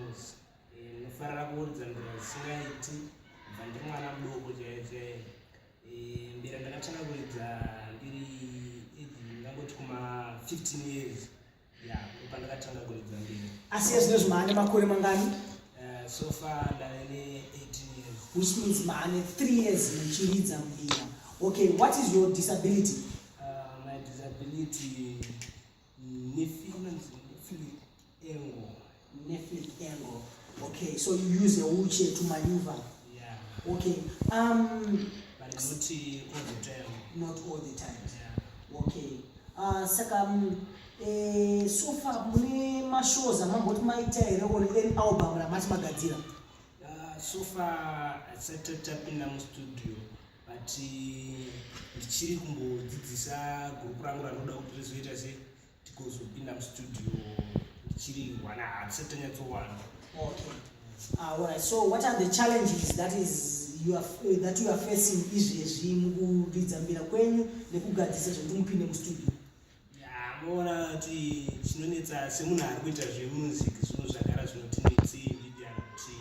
ndinofarira kuuridza mbira dzisingaiti bva ndiri mwana mudoko chaiye chaiye eh, mbira ndakatanga kuridza ndiri ndangoti kuma 15 years asi yezvino zvimane makore mangani eh, so far ndave ne 18 years which means mane 3 years muchiridza mbira okay what is your disability uh, my disability nephilic engo neflip angle okay so you use a wheelchair to maneuver yeah. okay um, but not all the time not all the time yeah. okay uh, saka um, eh, so far mune mashows amamboti maita here one an album ramati magadzira uh, so far asati tapinda mustudio but eh, ndichiri kumbodzidzisa gurupu rangu ranoda kuti rizoita sei tikozopinda mustudio ndichiri wana hatisati tanyatsowana ah, so what are the challenges that is you are, uh, that you are facing izvezvi mukuridza mbira kwenyu nekugadzisa zvekuti mupinde mustudio moona kuti chinonetsa semunhu ari kuita zvemusic zvinhu zvagara zvinotinetsi ndidia kuti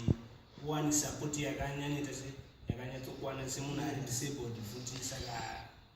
kuwani sapoti yakanyanyita yakanyatsokuwana semunhu ari disabled futi saka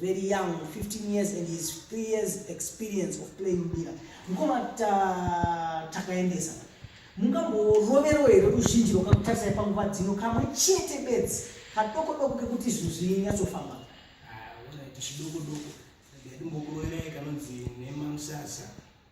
very young 15 years and his 3 years experience of playing mbira mukoma takaendesa mungamboroverewo here ruzhinji rwakakutarisai panguva dzino kamwe chete bedzi kadoko doko kekuti zvinhu zvinyatsofamba ah, chidokodoko ndadimbokuroerai kanonzi nemamusasa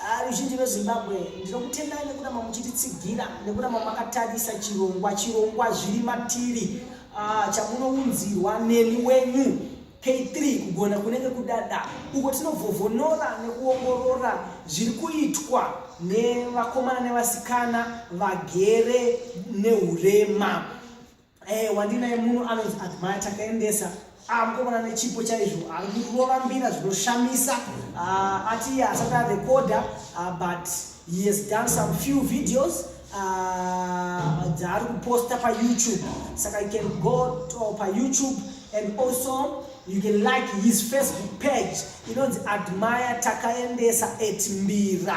Ah, ruzhinji rwezimbabwe ndinokutendai nekuramba muchititsigira nekuramba makatarisa chirongwa chirongwa zviri matiri ah, chamunounzirwa neni wenyu k3 kugona kunenge kudada uko tinovhovhonora nekuongorora zviri kuitwa nevakomana nevasikana vagere neurema Hey, eh, wandinaye munhu anonzi admire takaendesa amukomana ah, nechipo chaizvo arikurambira zvinoshamisa ah, ati iye asati arekoda ah, but he has done some few videos dzaari kuposta payoutube saka you can go to payoutube and also you can like his facebook page inonzi admire takaendesa etmbira